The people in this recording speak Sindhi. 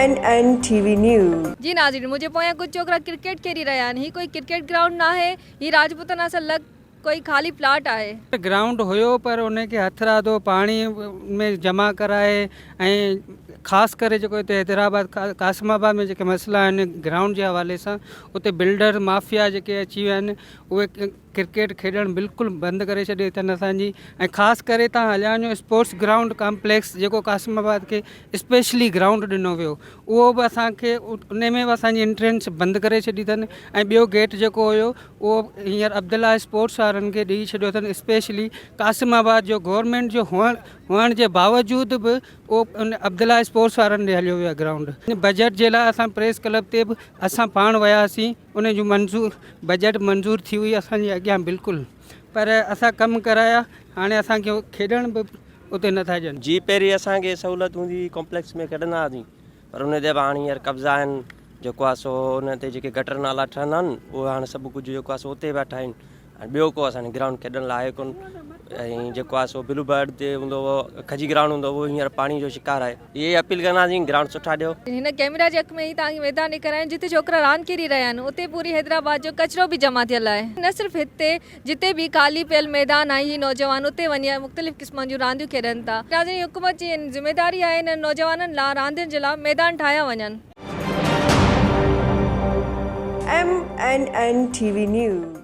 MNN TV News. جي ناظرين منهنجي پويان ڪجهه ڇوڪرا ڪرڪيٽ کيڏي رهيا آهن هي ڪوئي ڪرڪيٽ گرائونڊ ناهي هي راجپوتن اسان لڳ ڪوئي خالي پلاٽ آهي. گرائونڊ هيو پر ان کي هٿراڌو پاڻي ۾ جمع ڪرائي ۽ خاص ڪري جيڪو هتي حيدرآباد قاسم آباد ۾ جيڪي مسئلا آهن گرائونڊ جي حوالي سان اتي بلڊر مافيا جيڪي اچي ويا آهن اهي ڪرڪيٽ کيڏڻ بلڪل بند ڪري ڇڏي اٿن اسان جي ۽ خاص ڪري تان هليان جو اسپورٽس گرائونڊ ڪامپليڪس جيڪو قاسم آباد کي اسپيشلي گرائونڊ ڏنو ويو اهو به اسان کي ان ۾ به اسان جي انٽرينس بند ڪري ڇڏي اٿن ۽ ٻيو گيٽ جيڪو هيو اهو هينئر عبدالله اسپورٽس وارن کي ڏئي ڇڏيو اٿن اسپيشلي قاسم آباد جو گورنمنٽ جو هئڻ هئڻ جي باوجود به اهو ان عبدالله اسپورٽس وارن ڏي هليو ويو آهي گرائونڊ بجيٽ جي لاء اسان پريس ڪلب تي به اسان پاڻ وياسين ان جو منظور بجيٽ منظور ٿي هئي اسان جي اڳيان بلڪل پر اسان ڪم ڪرايا هاڻي اسان کي کيڏڻ به اتي نٿا ڏين. جي پهرين اسان کي سهولت هوندي هئي ڪمپليڪس ۾ کيڏندا هئاسين پر ان تي به هاڻي هينئر قبضا آهن جيڪو آهي سو ان تي جيڪي گٽر نالا ٺهندا آهن اهي هاڻي سڀ ڪجهه جيڪو آهي سو اتي پيا ٺاهين. ۽ ٻيو ڪو اسان گرائونڊ کيڏڻ لاء آهي ڪون ۽ جيڪو آهي سو بلو برڊ تي هوندو هو کجي گرائونڊ هوندو هو هينئر پاڻي جو شڪار آهي اهي اپيل ڪنداسين گرائونڊ سٺا ڏيو. هن ڪئميرا جي اک ۾ ئي توهان کي ميدان ڏيکاريا آهيون جتي ڇوڪرا راند کيڏي رهيا آهن اتي پوري حيدرآباد جو ڪچرو به جمع ٿيل آهي نه صرف هتي جتي به خالي پيل ميدان آهن هي نوجوان اتي وڃي مختلف قسمن جون رانديون کيڏن ٿا ناظرين حڪومت جي ذميداري آهي انهن نوجوانن لا راندين جي لا ميدان ٺاهيا وڃن. M N N T V news.